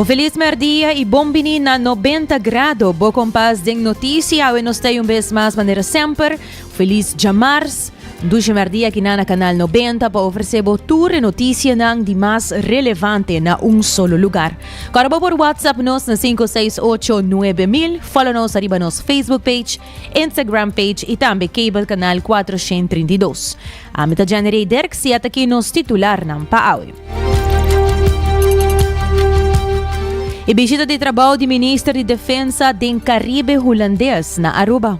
Un felis mèrdia i bon bini na Nobenta Grado, bo kompas den notisi. Awe nos ta ei un bes mas manera semper. Felis djamars! Un dushi mèrdia aki nan na Kanal Nobenta pa ofresé bo tur e notisianan di mas relevante na un solo lugar. Kòrda bo por whatsapp nos na sinku seis ocho nuebe mil. Fòlo nos ariba nos Facebook page. Instagram page y tambe cable canal cuatro shen trinta y dos. Ami ta Jennerey Derks y ata ki nos titularnan pa awe. E bishita di trabou di Minister di Defensa den Caribe Hulandes na Aruba.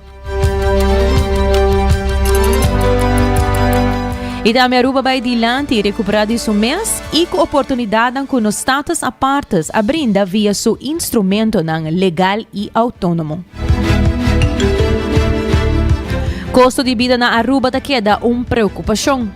Y tambe Aruba bay dilanti y recupera di su mes. y cu oportunidadnan cu nos States Apartes a brinda via su instrumentonan legal y autonomo. Costo di bida na Aruba ta keda un preocupacion.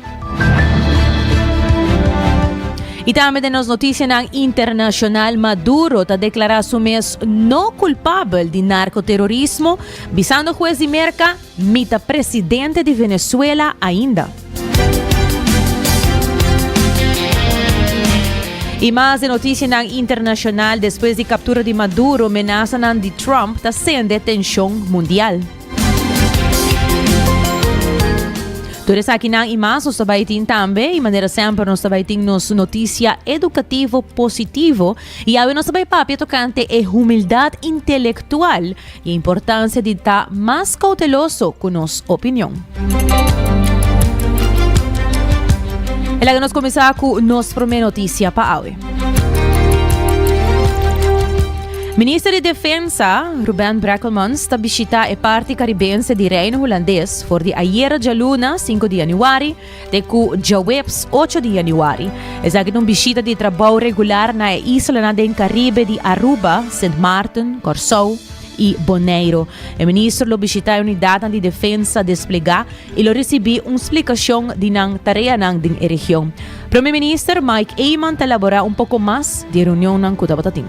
Y tambe den nos noticianan internacional, Maduro ta declara su mes no culpabel di narcoterrorismo, bisando hues di Merca, Mi ta presidente di Venezuela ainda. I mas den notisianan internashonal, despues di kaptura di Maduro, menasanan di Trump ta sende tenshon mundial. Tur esakinan i mas nos ta bai tin tambe i manera semper nos ta bai tin nos notisia edukativo positivo i awe nos ta bai papia tokante e humildad intelektual E importancia di ta mas cauteloso cu nos opinion. E laga nos comenzá cu nos prome noticia pa awe. Minister di Defensa, Ruben Brekelmans, ta bishita e parti caribense di Reino Hulandes for di ayera djaluna, sinku di januari, Te ku djaweps ocho di yanüari, esaki ta un bishita di trabou regular na e islanan den Karibe di Aruba, Sint Maarten, Kòrsou i Boneiru. E minister lo bishitá e unidatnan di defensa desplegá i lo risibí un splikashon di nan tareanan den e region. Prome Minister Mike Eman ta laborá un poko mas di e reunionnan ku tabata tin.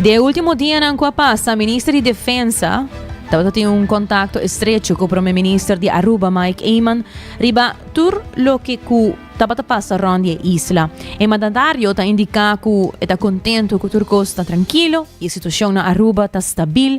I den e último dianan ku a pasa, Minister di Defensa tabata tin un kontakto estrecho ku Prome Minister di Aruba, Mike Eman, riba tur loke ku tabata pasa rònt di e isla. E mandatario ta indiká ku e ta kontentu ku tur kos ta trankilo i e situashon na Aruba ta stabil.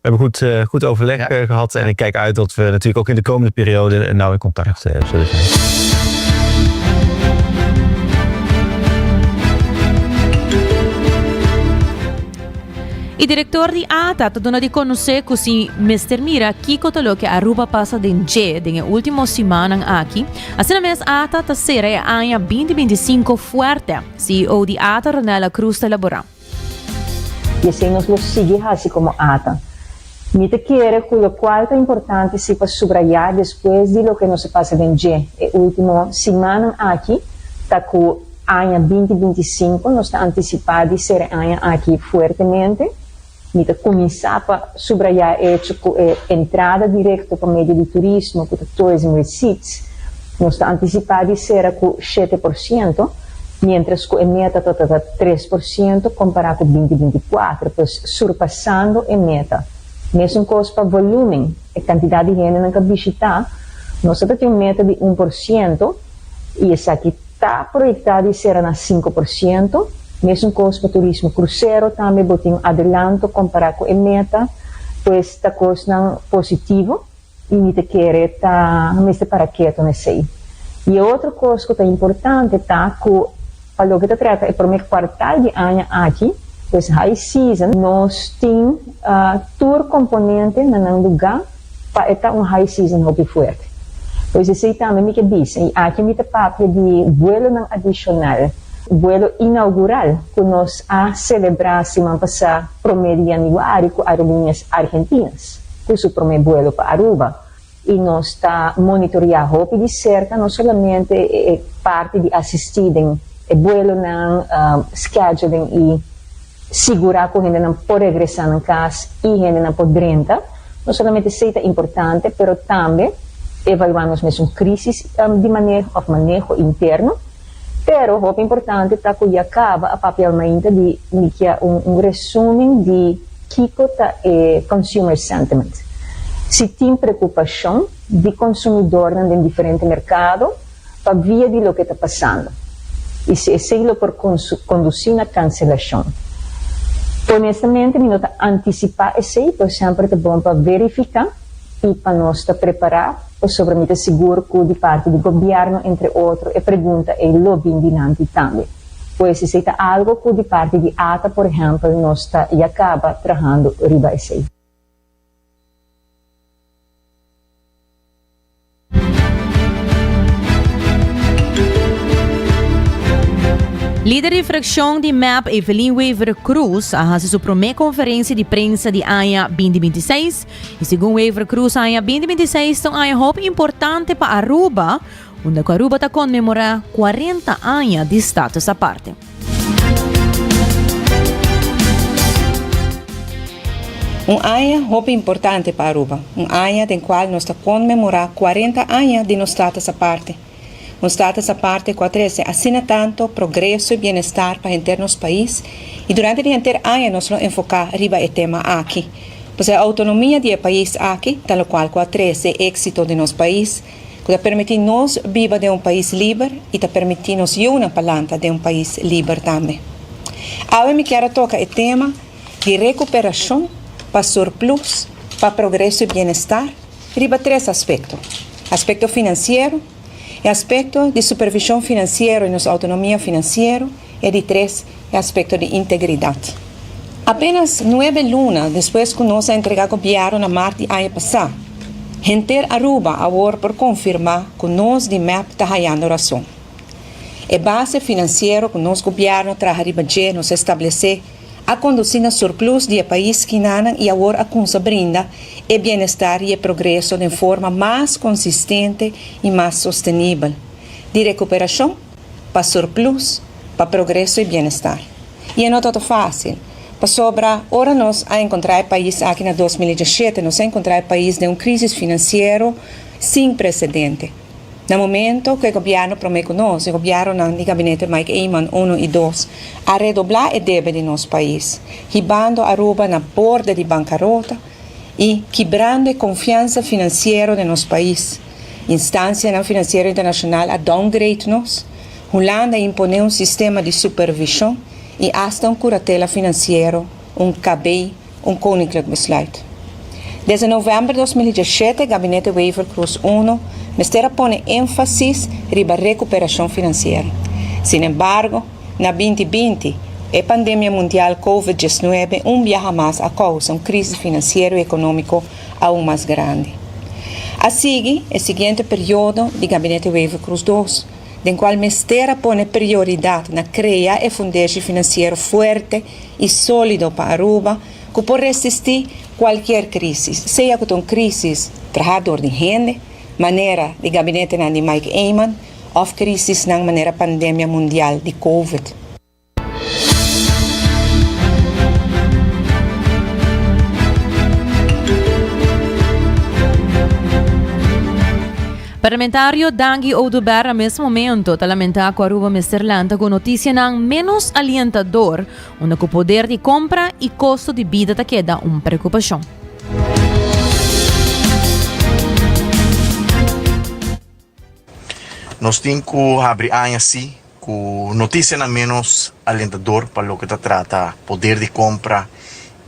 We hebben goed, eh, goed overleg Ja. eh, gehad en ik kijk uit dat we natuurlijk ook in de komende periode eh, nauw in contact eh, zullen zijn. E director di ata ta duna di conoce cu si mester mira kico ta loke Aruba pasa den dje den e ultimo simannan aki. Asina mes ata ta cera e aña binti binti cinco fuerte, CEO di ata Ronella Cruz ta elabora. I esei nos lo sigui hasi komo ata. Mi ta kere ku lokual ta importante si pa subrayá despues di loke nos a pasa den dje e último simannan aki ta ku aña binti binti i sinku nos ta antisipá di sere aña aki fuertemente. Mi ta kuminsá pa subrayá e echo ku e entrada direkto pa medio di turismo ku ta tourism receipts nos ta antisipá di sera ku shete por siento, mientras cu e meta ta ta ta tres por ciento compara cu binti binti cuatro, pues surpasando e meta. Mesuncoz pa volumen, e cantidad di hendenan ca bishita, nos a ta tin un meta di un por ciento y esaki ta proyecta di cera na cinco por ciento, mesuncoz pa turismo crucero tambe bo tin un adelanto compara cu e meta, pues ta cosnan positivo. Y mi ta kere ta mi mester para ketu na esey. Y e otro cos cu ta importante ta cu pa loke ta trata e prome cuartal di aña aki, pues high season, nos tin tur componente na nan luga pa e ta un high season hopi fuerte. Pues esey tambe mi ke bisa. Y aki mi ta papia di vuelonan adicional, vuelo inaugural cu nos a celebra siman pasa prome di januari cu aerolineas argentinas. cu su prome buelo pa Aruba y nos ta monitorea hopi di cerca no solamente e parti di asisti den e buelonan, scheduling y sigura cu hendenan por regresa nan cas y hendenan por drenta, no solamente esey ta importante pero tambe evalua nos mesun crisis di maneho of maneho interno. Pero hopi importante ta cu ya caba a papial mainta di likia un resumen di kico ta e consumer sentiment, si tin preocupacion di consumidornan den diferente mercado pa via di loke ta pasando y si esey lo por conduci na cancelacion. Honestamente mi no ta anticipa esey, pero semper ta bon pa verifica. i pa nos ta prepará pasobra mi ta sigur ku di parti di gobièrnu entre otro e pregunta ei lo bin dinanti tambe. Pues esei ta algo ku di parti di ata por ehèmpel nos ta ya kaba trahando riba esei. Lider di frakshon di mep Evelyn Wever Croes a hasi su promé konferensia di prensa di aña binti binti seis i segun Wever Croes aña binti binti seis ta un aña hopi importante pa Aruba unda ku Aruba ta konmemorá kuarenta aña di status aparte. Un aña hopi importante pa Aruba. Un aña den cual nos ta conmemora cuarenta aña di nos Status Aparte. Un Status Aparte cu a trece asina tanto progreso y bienestar pa henter nos pais y durante di henter aña nos lo enfoca riba e tema aki. P'esei autonomia di e pais aki ta locual cu a trece exito di nos pais. ku ta permití nos biba den un pais liber i ta permití nos yunan pa lanta den un pais liber tambe. Awe mi kier a toka e tema di rekuperashon pa surplus pa progreso i bienestar riba tres aspekto, aspekto finansiero, e aspekto di supervishon finansiero i nos outonomia finansiero, E di tres e aspekto di integridat. Apenas nuebe luna despues ku nos a entregá gobièrnu na mart di aña pasá, henter Aruba awor por konfirmá ku nos di mep ta hayando rason. E base finansiero ku nos gobièrnu a traha riba dje nos a establesé a kondusí na surplus di e pais skinanan i awor a kumsa brinda e bienestar i e progreso den forma mas konsistente i mas sostenibel di rekuperashon pa surplus, pa progreso y bienestar. Y e no ta ta facil, pasobra ora nos a encontra e pais aki na dos mil y dieschete nos a encontra e pais den un crisis financiero sin precedente. Na momento cu e gobierno prome cu nos, e gobiernonan di gabinete Mike Eman uno y dos, a redobla e debe di nos pais, hibando Aruba na borde di bancarota y kibrando e confiansa financiero den nos pais, Instansianan finansiero internashonal a downgrade nos, Hulanda a imponé un sistema di supervishon i asta un kuratela finansiero, un KB, un koninklik besluit. Desde novèmber dos mil i diashete Gabinete Wever-Croes I mester a pone énfasis riba rekuperashon finansiero. Sinembargo, na binti binti, e pandemia mundial Covid diesnuebe un biaha mas a kousa un krísis finansiero i ekonómiko aun mas grandi. A sigui e siguiente periodo di Gabinete Wever Cruz Dos, den cual mester a pone prioridad na crea e fundeshi financiero fuerte y solido pa Aruba cu por resisti cualkier crisis, sea cu ta un crisis traha door di hende, manera di Gabinetenan di Mike Eman, of crisisnan manera pandemia mundial di Covid. Parlamentario Dangi Oduber a mes momento ta lamenta cu Aruba mester lanta cu noticianan menos alientador unda cu poder di compra y costo di bida ta keda un preocupacion. Nos tin cu habri aña si cu noticianan menos alentador pa loke ta trata poder di compra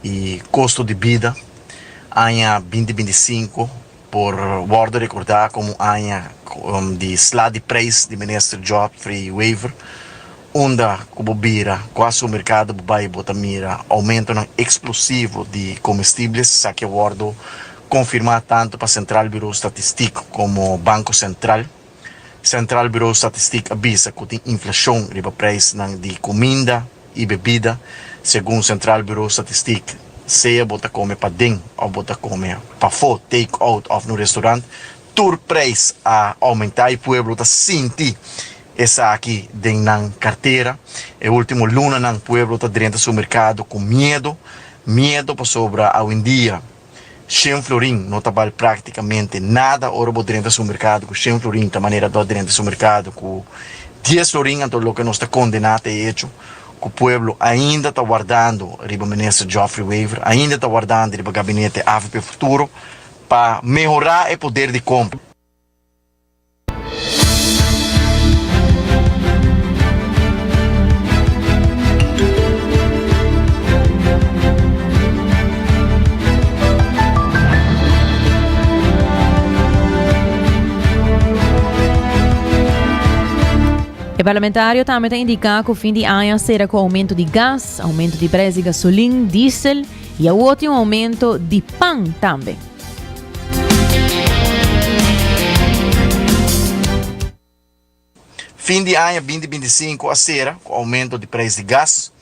y costo di bida. Aña binti binti i sinku por wordo recorda como aña di sla di prijs di Minister Godfrey Wever. Unda ku bo bira, kua supermerkado bo bai bo ta mira oumentonan eksplosivo di komestibles? Esaki a wòrdu konfirmá tantu pa Sentral Birou Statistik komo Banko Sentral. Sentral Birou Statistik a bisa ku tin inflashon riba preisnan di kuminda i bebida. Segun Sentral Birou Statistik, sea bo ta kome paden òf bo ta kome pafó, take-out òf na un restorant, tur prijs a oumentá i pueblo ta sinti esaki den nan kartera. E último lunanan pueblo ta drenta su merkado ku miedu, miedu pasobra awendia shen florin no ta bal práktikamente nada. Ora bo drenta su merkado ku shen florin ta manera bo a drenta su merkado ku dies florin. Anto loke nos ta kondená ta e echo ku pueblo ainda ta wardando riba minister Geoffrey Wever, ainda ta wardando riba gabinete avp Futuro, pa mehorá e poder di compra. E parlamentario tambe ta indica cu fin di aña cera cu aumento di gas, aumento di prijs di gasolin, diesel y awor tin un aumento di pan tambe. Fin di aña binti binti sinku a sera ku oumento di preis di gas,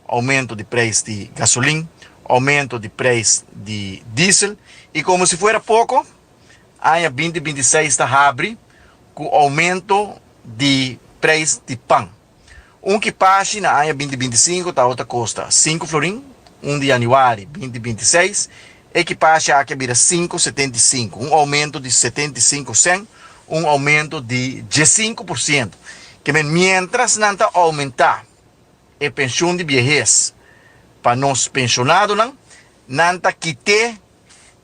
oumento di preis di gasolin, oumento di preis di diesel i komo si fuera poko aña binti binti seis ta habri ku oumento di preis di pan. Un kipashi na aña binti binti sinku tabata kosta sinku florin, un di yanüari binti binti seis e kipashi aki a bira sinku setenta i sinku, un oumentu di setenta i sinku sèn, un oumentu di dies sinku por sientu. Kemey, miéntras nan ta oumentá e penshun di biehes pa nos penshonadonan, nan ta kit'é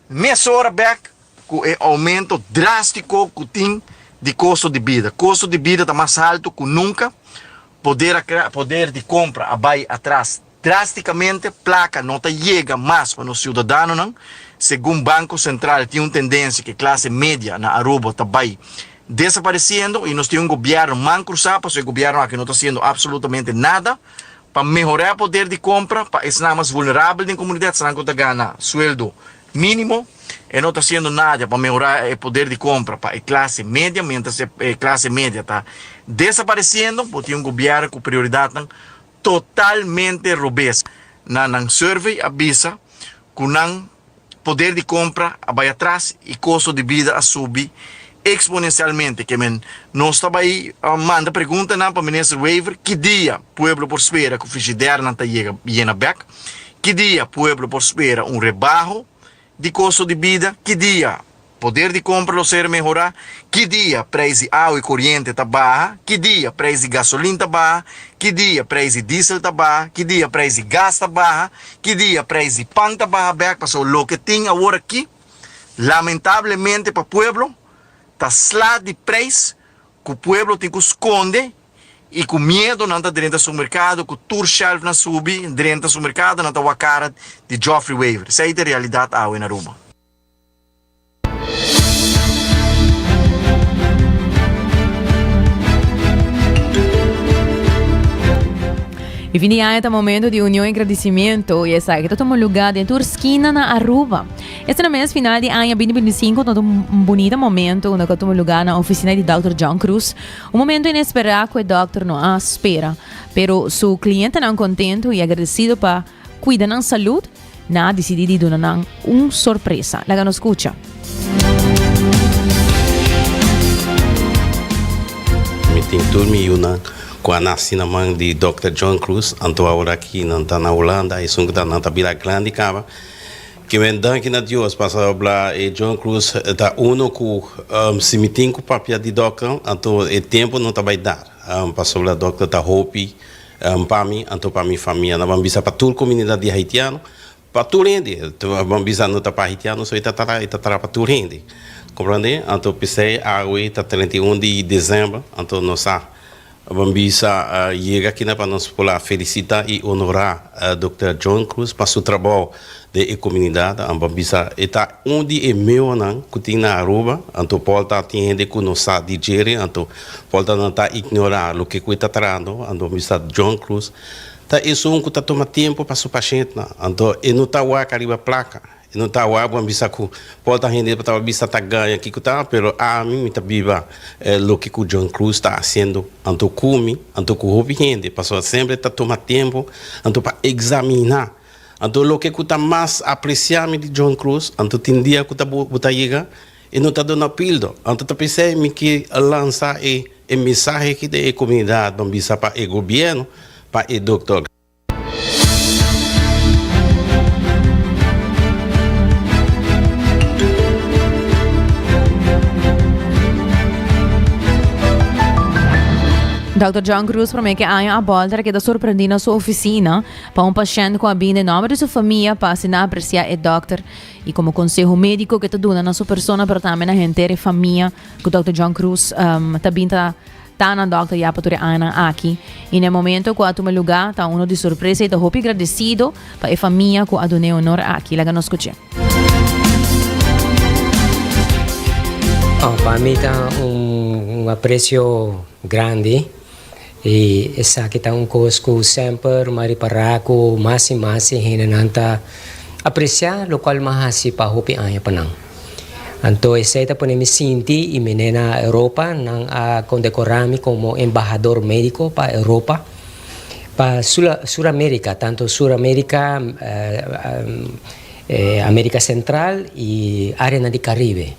mesora bèk Ku e oumento drástiko ku tin di kosto di bida. Kosto di bida ta mas haltu ku nunka, poder a kra, poder di kompra a bai atras drástikamnte, plaka no ta yega mas pa nos siudadanonan. Segun Banko Sentral tin un tendensia ku e klase media na Aruba ta bai desaparesiendo i nos tin un gobièrnu man krusá pasobra e gobièrnu aki no ta hasiendo apsolutamente nada pa mehorá e poder di kompra pa esnan mas vulnerabel den komunidat, esnan ku ta gana sueldo Mínimo, e no ta siendo nada pa mehorá e poder di compra pa e clase media, mientras e clase media ta desapareciendo. Bo tin un gobierno cu prioridadnan totalmente robes. Na nan survey a bisa cu nan poder di compra a bay atras y costo di bida a subi exponencialmente. Ke men nos ta bay manda preguntanan pa Minister Wever, ki dia pueblo por spera cu frigidernan ta yega yena bek Ki dia pueblo por spera un rebaho di kosto di bida? Ki dia poder di kompra lo ser mehorá? Ki dia preis di awa i koriente ta baha? Ki dia preis di gasolin ta baha? Ki dia preis di diesel ta baha? Ki dia preis di gas ta baha? Ki dia preis di pan ta baha bèk? Pasobra loke tin awor aki, lamentablemente pa pueblo, ta sla di preis ku pueblo tin ku skonde I ku miedu nan ta drenta supermerkado ku tur shelfnan subi drenta supermerkado nan ta wak kara di Joffrey Waver. Esei ta e realidat awe na Aruba. E fin di aña ta momento di union i gradisimentu i esaki ta tuma luga den tur skina na Aruba. Este na mes final di aña binti binti sinku ta un bunita momento unda ku ta tuma luga na ofisina di Dòkter John Cruz, Un momento inesperá cu e dokter no a spera, pero su clientenan contento y agradecido pa cuida nan salud, nan a dicidi di duna nan un sorpresa. Laga nos scucha. Mi tin tur mi yunan cu a naci na man di dokter John Croes, anto aworakí nan ta na Hulanda, esun cu ta nan ta bira grandi caba. Ki men danki na Dios pas a habla e John Cruz ta uno cu si mi tin cu papia di dokter anto e tempo no ta bay dar pasobra dokter ta hopi pa mi anto pa mi famia no ban bisa pa tur comunidad di haitiano pa tur hende ban bisa no ta pa haitiano so e ta tara e ta tara pa tur hende comprende anto p'esey awe ta trenta y un di december anto no sa Bo bisa yega akina pa nos por a felisita i onorá Dokter John Cruz pa su trabou den e komunidat. Bo bisa e ta un di e meonan ku tin na Aruba. Anto Paul ta tin hende ku no sa di djeri, anto Paul ta nan ta ignorá loke ku e ta trahando. Anto bo bisa John Cruz ta esun ku ta tuma tempu pa su pashentnan. Anto e no ta wak ariba plaka. E no ta awor bon bisa cu Paul ta hende pa taba bisa ta gaña kico ta, pero ami mi ta biba loke cu John Cruz ta haciendo, anto cu mi, anto cu hopi hende, pasobra semper ta tuma tempo anto pa examina, anto loke cu ta mas aprecia mi di John Cruz, anto tin dia cu ta bo bo ta yega e no ta duna pildo, anto ta p'esey mi ki a lansa e e mensahe aki den e comunidad, bon bisa pa e gobierno, pa e Dr. Dòkter John Cruz promé ke aña a bòlta ta keda sorprendí na su ofisina pa un pashènt ku a bin den nòmber di su famia pa asina apresiá e dòkter i komo konseho médiko ke ta duna na su persona pero tambe na henter e famia ku dòkter John Cruz um, ta bin ta Ta nan dokter ya pa tur e añanan aki i na e momento ku a tuma lugá ta uno di sorpresa i ta hopi gradesido pa e famia ku a duna e honor aki. Laga nos skuch'é. Oh, pa mi ta un aprecio grandi i esaki ta un kos ku semper mi a repará ku mas i mas e hendenan ta apresiá lokual mi a hasi pa hopi aña pa nan. Anto esei ta pone mi sinti y mene na Europa. Nan a condecora mi como embahador medico pa Europa, pa Suramerica, tanto Suramerica, America Central y areanan di Caribe.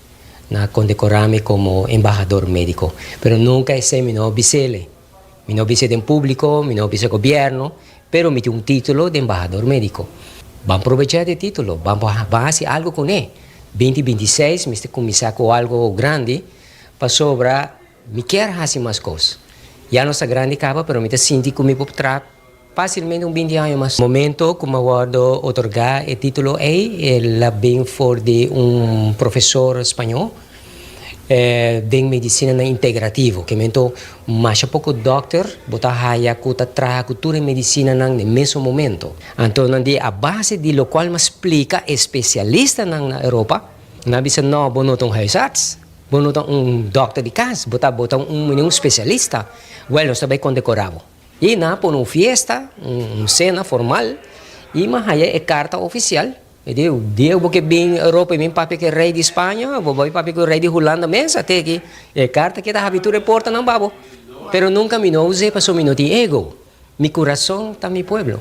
Nan a condecora mi como embahador medico, pero nunca esei mi no a bisele. Mi no bisa den públiko, mi no bisa gobièrnu, pero mi tin un título di embahador médiko. Ban probechá te título, ban por ban hasi algu kuné. Binti binti seis mester kuminsá ku algu grandi pasobra mi kier hasi mas kos. Ya no ta grandi kaba, pero mi ta sinti ku mi por traha. Fácilmente un binti aña mas. Momento cu m'a wordo otorgá e título ei, l'a bin for di un profesor spañó den medicinanan integrativo. K'e momento masha poco dòkter bo ta haya cu ta traha cu tur e medicinanan n'e mesun momento. Anto nan di a base di locual m'a splica e specialistanan na Europa, nan a bisa, No, bo no ta un huisarts, bo no ta un dòkter di cas, bo ta bo ta un mene un specialista. Wèl, nos ta bay condecora bo. I nan a pone un fiesta, un cena formal, i mi a haya e carta oficial. Mi a dici, dia cu bo ke bin Europa y bin papia cu e rey di Spaña, bo bai papia cu e rey di Hulanda mesa te aki. E carta ke ta habri tur e portanan pa bo. Pero nunca mi no a us'é pasobra mi no tin ego. Mi curason ta mi pueblo.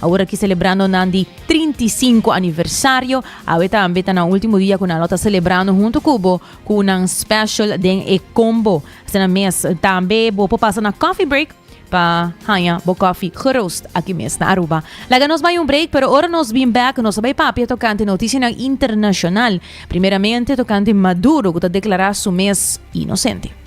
Awor aki selebrando nan di trinta i sinku aniversario, awe tambe ta nan ultimo dia ku nan lo ta selebrando huntu ku bo ku nan special den e combo. Asina mes tambe bo por pasa na coffee break pa haña bo coffee geroost aki mes na Aruba. Laga nos bai un break, pero ora nos bin bek nos a bai papia tokante notisianan internashonal, primeramente tokante Maduro ku ta deklará su mes inosente.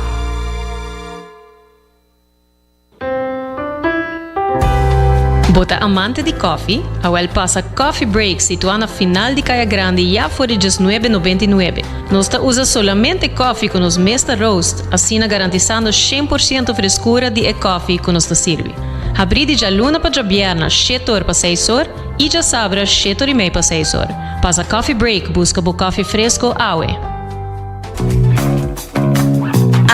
Bo ta amante di kòfi? Awèl pasa Coffee Break situá na final di Kaya Grandi ya for di djes nuebe nobenta i nuebe. Nos ta usa solamente kòfi ku nos mes ta roast, asina garantisando shen por siento freskura di e kòfi ku nos ta sirbi. Habrí di djaluna pa djabièrna shete or pa seis or i djasabra shete or i mei pa seis or. Pasa Coffee Break buska bo kòfi fresko awe!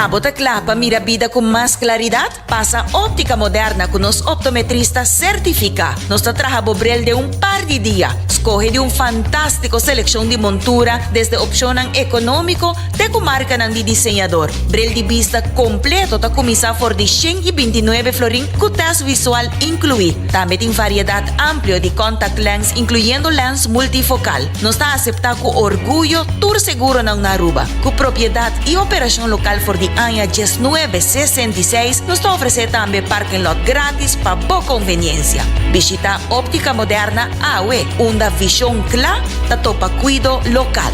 Abo ta kla pa mira bida ku mas klaridat? Pasa Óptica Moderna ku nos optometrista sertifiká. Nos ta traha bo brel den un par di dia. Skohe di un fantástiko selekshon di montura, desde opshonnan ekonómiko te ku markanan di diseñador. Brel di bista kompleto ta kuminsá for di shen i binti nuebe florin ku tèst visual inkluí. Tambe tin variedat amplio di kòntaktlenz, inkluyendo lèns multifokal. Nos ta aseptá ku orguyo tur seguronan na Aruba. Ku propiedat i operashon lokal for di aña diesnuebe sesenta i seis, nos ta ofresé tambe parking lot gratis pa bo konveniensia. Bishita Optica Moderna awe, unda vishon kla ta topa kuido lokal.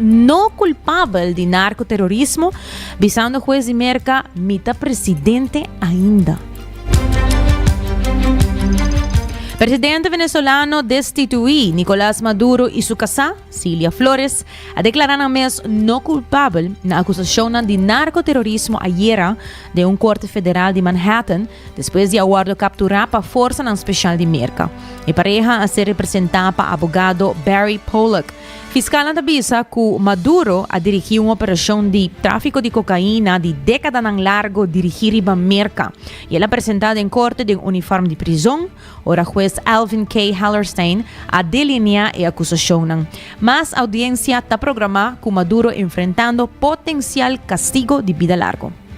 no culpabel di narcoterrorismo bisando hues di Merca mi ta presidente ainda. Presidente venezolano destituí Nicolas Maduro y su casá, Cilia Flores, a declara nan mes no culpabel na acusacionnan di narcoterrorismo ayera den un corte federal di Manhattan despues di a wordo capturá pa forsanan special di Merca. E pareha a ser representá pa abogado Barry Pollock, Fiskalnan ta bisa ku Maduro a dirigí un operashon di tráfiko di kokaina di dékadanan largu dirigí riba Merka i el a presentá den korte den unifòrm di prizon ora hues Alvin K. Hellerstein a delineá e akusashonnan. Mas audiensia ta programá ku Maduro enfrentando potensial kastigo di bida largu.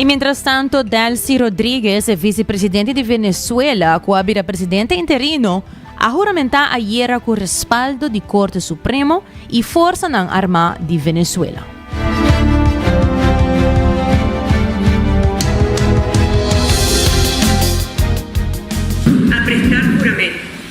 I mientras tanto, Delcy Rodriguez, e vicepresidente di Venezuela cu a bira presidente interino, a huramenta ayera cu respaldo di Corte Supremo y forsanan arma di Venezuela.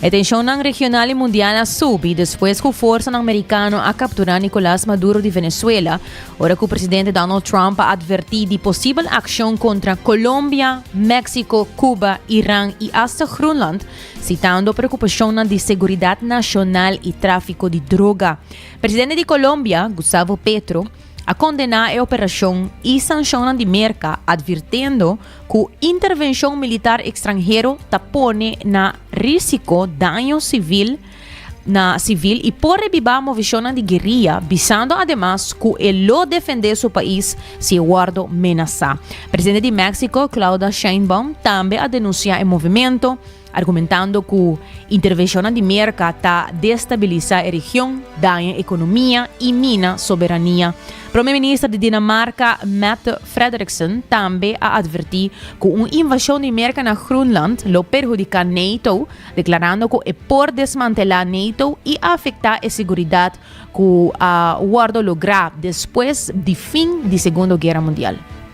E tenshonnan regional i mundial a subi despues ku forsanan merikano a kapturá Nicolás Maduro di Venezuela, ora ku presidente Donald Trump a atvertí di posibel akshon kontra Colombia, Méksiko, Kuba, Iran i asta Groenland, sitando preokupashonnan di seguridat nashonal i tráfiko di droga. Presidente di Colombia, Gustavo Petro, a kondená e operashon i sanshonnan di Merka, atvirtendo ku intervenshon militar ekstranhero ta pone na risiko daño sivil na sivil i por rebibá moveshonnan di gueria, bisando ademas ku e lo defendé su pais si e wòrdu menasá. Presidente di Méksiko, Clauda Sheinbaum, tambe a denunsiá e movimento, argumentando ku intervenshonnan di Merka ta destabilisá e region, daña ekonomia i mina soberania. Prome minister di Dinamarka, Mette Frederiksen, tambe a atvertí ku un invashon di Merka na Groenland lo perhudiká NATO, deklarando ku e por desmantelá NATO i afektá e seguridat ku a wòrdu lográ despues di fin di Segundo Guera Mundial.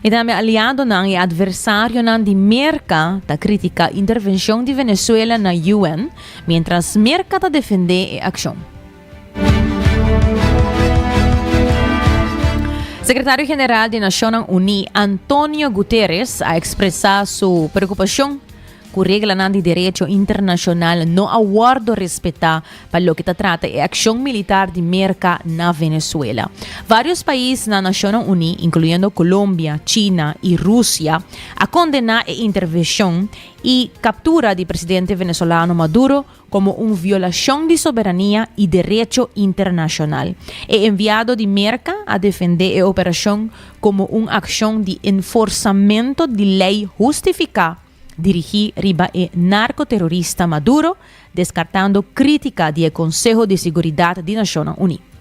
E tambe aliadonan i adversarionan di Merka ta kritika intervenshon di Venezuela na UN, mientras Merka ta defende e akshon. Sekretario General di Nashonnan Uní, Antonio Guterres a ekspresá su preokupashon, cu reglanan di derecho internacional no a wordo respeta pa loke ta trata e accion militar di Merca na Venezuela. Varios pais na Nacionnan Uni, incluyendo Colombia, China y Rusia, a condena e intervencion y captura di presidente venezolano Maduro komo un violashon di soberania i derecho internashonal. E enviado di Merka a defendé e operashon komo un akshon di enforsamentu di lei hustifiká dirigí riba e narkoterorista Maduro, deskartando krítika di e Konseho di Siguridat di Nashonnan Uní.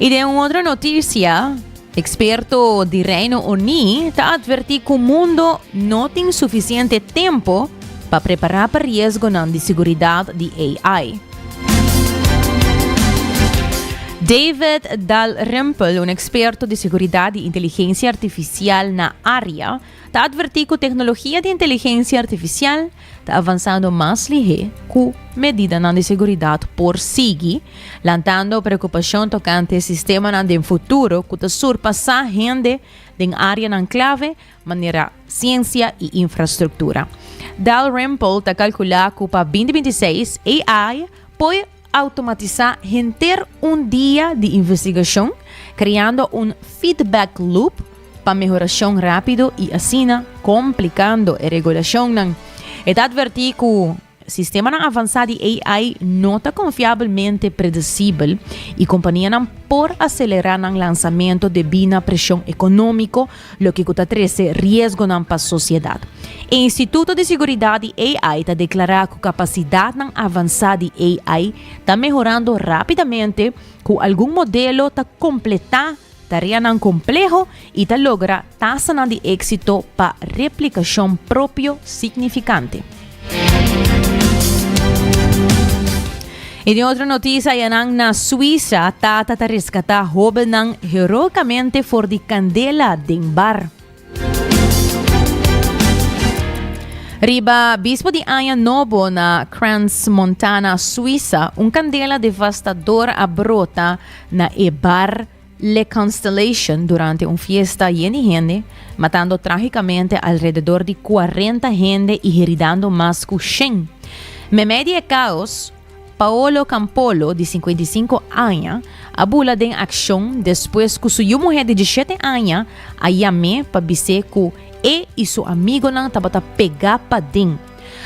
I den un otro noticia, experto di Reino Uní ta advertí cu mundo no tin suficiente tempo pa prepará pa riesgonan di seguridad di AI. David Dalrymple, un experto di seguridad di inteligencia artificial na area, ta advertí ku teknologia di inteligensia artifisial ta avansando mas lihé ku medidanan di seguridat por sigui, lantando preokupashon tokante sistemanan den futuro ku ta surpasá hende den áreanan klave manera siensia i infrastruktura. Dalrymple ta kalkulá ku pa binti binti seis AI poi Automatisá henter un dia di investigashon, kreando un feedback loop pa mehorashon rápido i asina komplikando e regulashonnan. E ta advertí ku sistemanan avansá di AI no ta konfiabelmente predesibel i kompanianan por aselerá nan lansamentu debí na preshon ekonómiko loke ku ta trese riesgonan pa sosiedat. E Instituto di Seguridat di AI ta deklará ku kapasidatnan avansá di AI ta mehorando rápidamente, ku algun modelo ta kompletá tareanan kompleho i ta logra tasanan di éksito pa replikashon propio signifikante. En e otro notisa, ayanan na Suisa, tata ta rescata hobennan heroicamente for di candela den bar. Riba bispo di Aña Nobo na Crans Montana, Suiza, un candela devastador a brota na e bar Le Constellation durante un fiesta yen di hende, matando trágicamente alrededor di cuarenta hende y heridando mas cu shen. Memey di e caos, Paolo Campolo, di cincuenta y cinco aña, a bula den accion despues cu su yu muher di dieschete aña a yam'é pa bis'é cu e y su amigonan tabata pegá paden.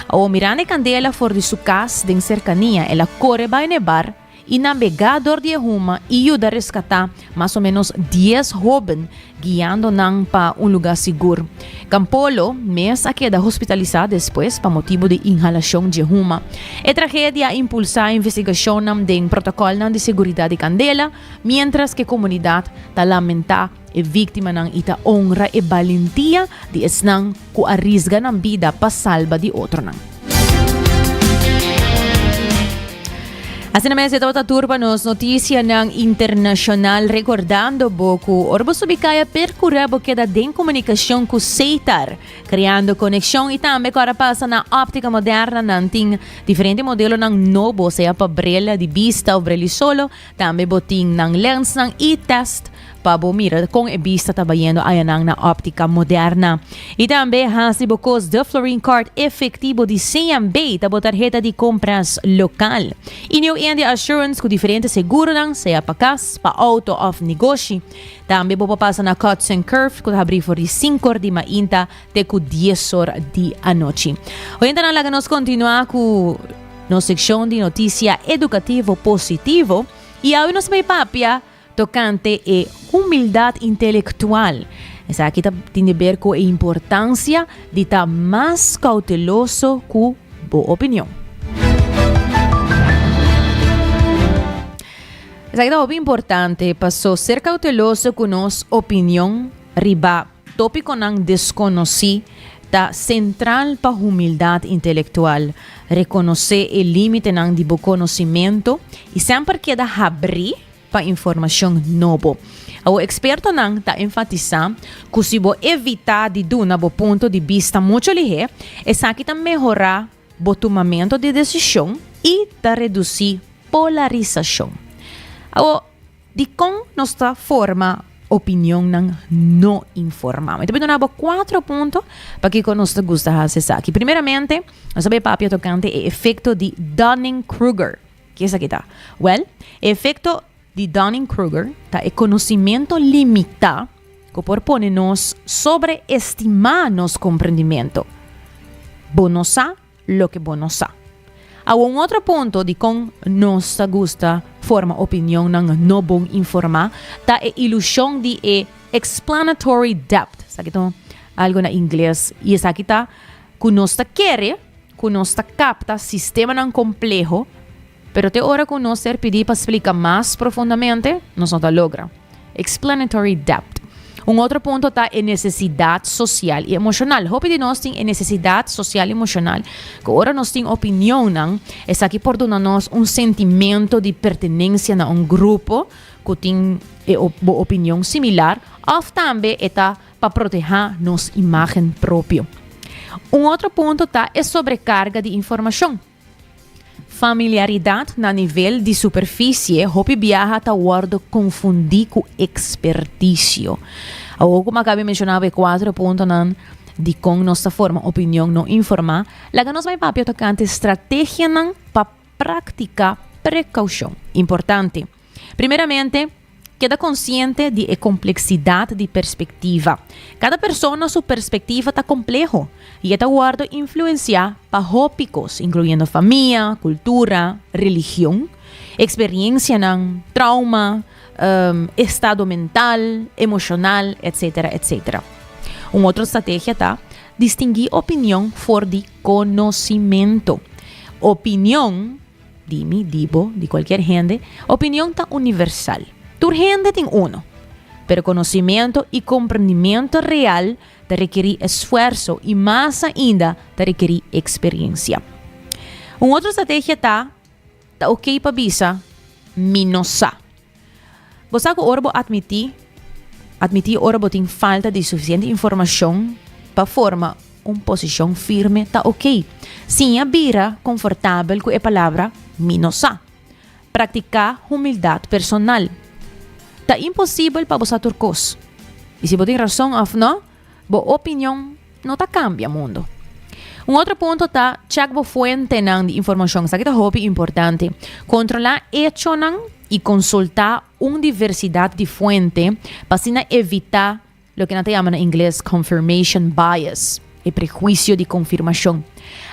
Awor mirando e candela for di su cas den cercania el a core bay n'e bar, i nan bega dor di e huma i yuda reskatá mas o ménos dies hóben, guiando nan pa un lugá sigur. Campolo mes a keda hospitalisá despues pa motibu di inhalashon dje huma. E tragedia a impulsá investigashonnan den protokòlnan di seguridat di kandela, miéntras ke komunidat ta lamentá E víktimanan i ta onra e balentia di esnan ku a risga nan bida pa salba di otronan. Asina mes, e tabata tur pa nos notisianan internashonal, rekordando bo ku ora bo subi kaya perkurá bo keda den komunikashon ku Seitar, kreando konekshon i tambe ku ora pasa na óptika moderna nan tin diferente modelonan nobo, sea pa brel di bista òf brel di solo, Tambe bo tin nan lensnan i test pa bo mira kon e bista ta bayendo ayanan na Optica Moderna. I tambe hasi bo kos de Florin Card efektibo di CMB ta bo tarheta di kompras lokal. I niu Endi Assurance ku diferente seguronan, sea pa kas, pa outo òf negoshi. Tambe bo por pasa na Cuts and Curves ku ta habrí for di sinkor di mainta te ku diesor di anochi. Oyentenan laga nos kontinuá ku. Nos sekshon di notisia edukativo positivo i awe nos bay papia tokante e humildat intelektual. Esaki ta tin di ber ku e importansia di ta mas kouteloso ku bo opinion. Esaki ta hopi importante paso ser kouteloso ku nos opinion riba Tópikonan deskonosí ta sentral pa humildat intelektual, rekonosé e límitenan di bo konosimentu i semper keda habrí pa informashon nobo. Awor ekspertonan ta enfatisá ku si bo evitá di duna bo punto di bista muchu lihé, esaki ta mehorá bo tumamentu di desishon i ta redusí polarisashon. Awor. Dikon nos ta forma opinionnan no informá? Mi ta bin duna bo kuatro punto pa kiko nos ta gusta hasi esaki. Primeramente, nos a bai papia tokante e efekto di Dunning-Kruger. Ke esaki ta? Wèl, e efekto di Dunning-Kruger ta e konosimentu limitá ku por pone nos sobreestimá nos komprendimentu. Bo no sa loke bo no sa. Awa un otro punto di kon nos ta gusta forma opinionnan no bon informá ta e ilushon di e explanatory depth, esaki ta un algo na ingles i esaki ta ku nos ta kere ku nos ta kapta sistemanan kompleho, Pero te ora ku nos ser pidi pa splika mas profundamente, nos no ta logra. Explanatory depth. Un otro punto ta e nesesidat sosial i emoshonal. Hopi di nos tin e nesesidat sosial i emoshonal ku ora nos tin opinionnan, esaki por duna nos un sentimento di pertenensia na un grupo ku tin e bo opinion similar òf tambe e ta pa protehá nos imágen propio. Un otro punto ta e sobrekarga di informashon. Familiaridat na nivel di superfisie, hopi biaha ta wòrdu konfundí ku ekspertisio. Awor ku Makabe a menshoná bo e kuater puntonan di kon nos ta forma opinion no informá, laga nos bai papia tokante strategianan pa praktiká prekaushon. Importante. Primeramente, keda konsiente di e kompleksidat di perspektiva. Kada persona su perspektiva ta kompleho i e ta wòrdu influensiá pa hopi kos, inkluyendo famia, kultura, religion, eksperiensianan, trauma, estado mental, emoshonal, etsetera, etsetera. Un otro strategia ta distingui opinion for di konosimento. Opinion. Di mi, di bo, di cualkier hende, opinion ta universal. Tur hende tin unu. Pero conocimento y comprendimento real ta requeri esfuerzo y mas ainda ta requeri experiencia. Un otro strategia ta, Ta ok pa bisa, Mi no sa. Bo sa ku ora bo admití, admití ora bo tin falta di sufisiente informashon pa forma un posishon firme ta ok. Siña bira konfortabel ku e palabra mi no sa. Praktiká humildat personal. Ta imposibel pa bo sa tur kos. I si bo tin rason òf nò? Bo opinion no ta cambia mundo. Un otro punto ta check bo fuentenan di informacion. Esaki ta hopi importante. Controla hechonan y consulta un diversidad di fuente pa asina evita loke nan ta yama na ingles confirmation bias, e prejuicio di confirmacion.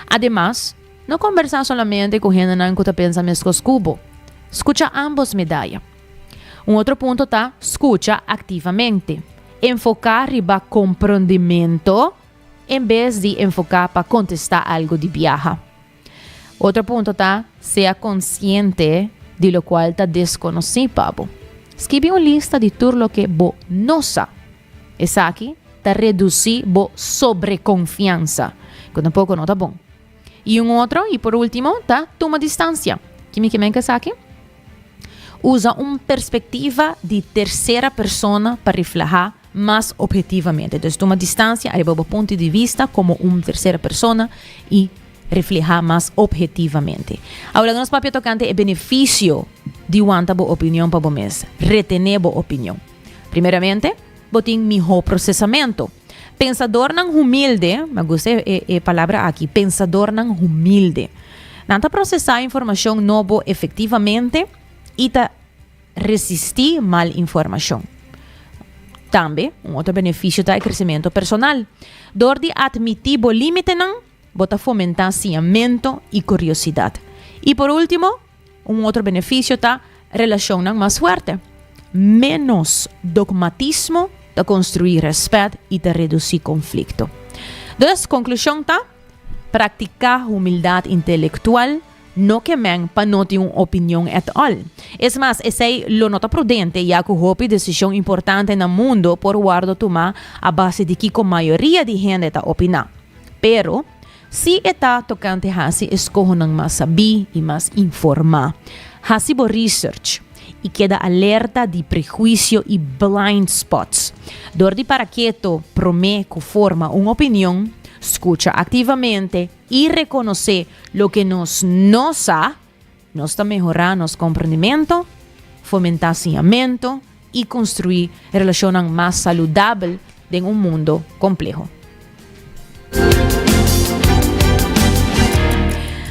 Ademas, no conversa solamente cu hendenan cu ta pensa mescos cu bo. Scucha ambos medaya. Un otro punto ta scucha activamente. Enfoca riba comprondimento en bes di enfoca pa contesta algo di biaha. Otro punto ta sea consciente di locual ta desconoci pa bo. Skibi un lista di tur loke bo no sa. Esaki ta reduci bo sobreconfiansa, cu tampoco no ta bon. Y un otro y por ultimo ta tuma distancia. Kimi ke men cu esaki? Usa un perspektiva di tersera persona pa reflehá mas obhetivamente. Entonces, tuma distansia ariba bo punto di vista komo un tersera persona i reflehá mas obhetivamente. Awor laga nos papia tokante e benefisio di wanta bo opinion pa bo mes, retené bo opinion. Primeramente. Bo tin mihó prosesamentu. Pensadornan humilde, me gusta e palabra aki, pensadornan humilde. Nan ta prosesá informashon nobo efektivamente i ta resistí mal informashon. Tambe, un otro benefisio ta e kresementu personal. Dor di atmití bo límitenan, bo ta fomentá siñamento i kuriosidat. I por último, Un otro beneficio ta relacionnan mas fuerte. Menos dogmatismo ta construi respet y ta reduci conflicto. Dus, conclusion ta, Practica humildad intelectual no ke men pa no tin un opinion at all. Es mas, esey lo no ta prudente ya cu hopi decision importante na mundo por wordo tuma a base di kico mayoria di hende ta opina. Pero. Si e ta tokante hasi eskohonan mas sabí i mas informá, hasi bo research i keda alerta di prehuisio i blind spots. Dor di para keto promé ku forma un opinion, skucha aktivamente i rekonosé loke nos no sa. Nos ta mehorá nos komprendimentu, fomentá siñamentu i konstruí relashonnan mas saludabel den un mundu kompleho.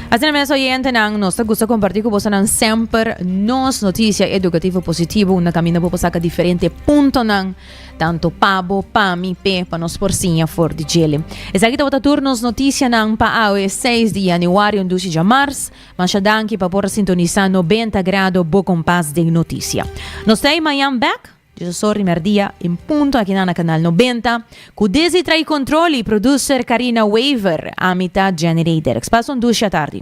Asina mes, oyentenan, nos ta gusta kompartí ku bosonan semper nos notisia edukativo positivo unda kaminda bo por saka diferente puntonan Tanto pa bo, pa mi, p'e, pa nos por siña for di djele. Esaki tabata tur nos noticianan pa awe seis di januario dushi dja mars. Masha danki pa por a sintonisa Nobenta Grado bo kompas den noticia. Nos trai mañan bek, diezosor di merdia en punto akinan na Kanal Nobenta, ku desi trai kontrol i produser Karina Wever, ami ta Jenny Rederix. Pas un dushi atardi.